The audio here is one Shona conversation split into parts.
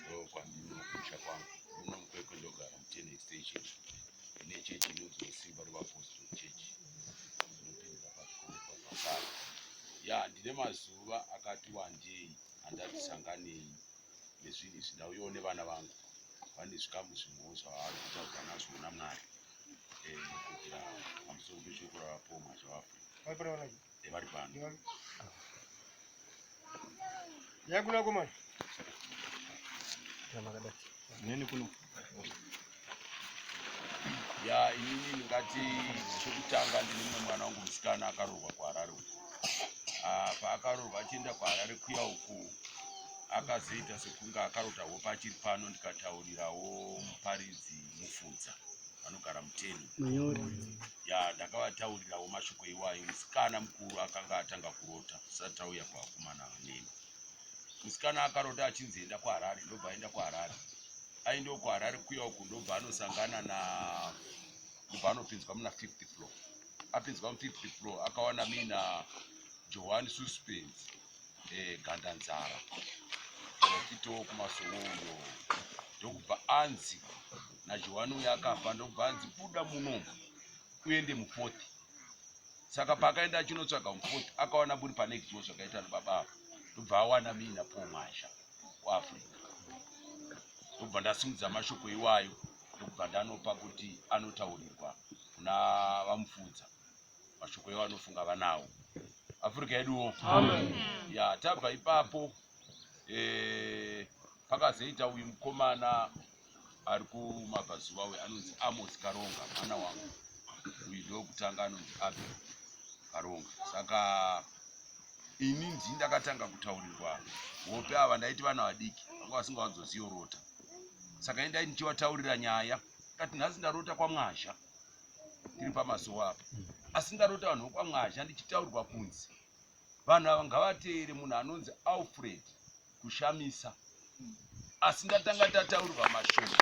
ndokwandinokusha kwangu muno mukwekwe ndogara mutene extension ine chechi inonzi wesimba revapostol chechi inopindira pakukoekwazvakare ya ndine mazuva akati wandei handati sanganei nezvinhu izvi ndauyawo nevana vangu vane zvikamu zvimwewo zvavari kutaura nazvo namwari eh, kuitira pamusoro pechokora vapomwa zvavafuna yevari pano yakuna komana neni kuno ya inini ndingati chekutanga ndine mumwe mwana wangu musikana akaroorwa kuharare uku ah, paakaroorwa achienda kuharare kuya uku akazoita sekunge akarota hope achiri pano ndikataurirawo muparidzi Mufudza anogara Muteni Manyoro. ya ndakavataurirawo mashoko iwayo musikana mukuru akanga atanga kurota tisati auya kuvakomana vaneni musikana akarota achinzi enda kuharare ndobva aenda kuharare aendewo kuharare kuya uku ndobva anosangana na ndobva anopinzwa muna fifth floor apinzwa mufifth floor akawana mina johani suspense egandanzara akitowo kumasowo uyo ndokubva anzi najohani uyo akafa ndokubva anzi buda muno uende mufoti saka paakaenda achinotsvaga mufoti akawana buri pane kiwo zvakaita nababa avo ndobva awana miina po mwasha kuafrica ndobva ndasimudza mashoko iwayo ndokubva ndanopa kuti anotaurirwa kuna vamufudza mashoko iwo anofunga vanawo afurika yeduwo ya tabva ipapo e, pakazoita uyu mukomana ari kumabvazuva uyu anonzi amos karonga mwana wangu uyu ndokutanga anonzi abe karonga saka ini ndi ndakatanga kutaurirwa hope ava ndaiti vana vadiki vanga vasingawanzoziyorota saka ini ndai ndichiwataurira nyaya kati nhasi ndarota kwamwazha ndiri pamasowa apa asi ndarota vanhu vokwamwazha ndichitaurwa kunzi vanhu ava ngavateere munhu anonzi alfred kushamisa asi ndatanga tataurwa mashoko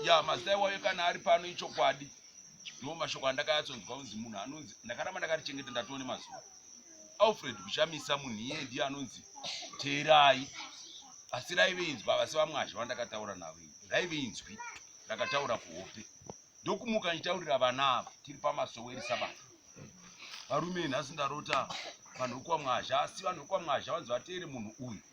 ya mazita iwayo kana ari pano ichokwadi ndo mashoko andakayatsonzwa kunzi munhu anonzi ndakaramba ndakarichengeta ndatone mazuva Alfred kuchamisa munhu iye ndiye anonzi teerai asi raive inzwa vasi vamwazhe vandakataura navo raive inzwi rakataura kuhope ndokumuka nditaurira vana avo tiri pamasoweri sabata varume nhasi ndarota vanhu vekuwamwazha asi vanhu vekuwamwazha vanzi vateere munhu uyu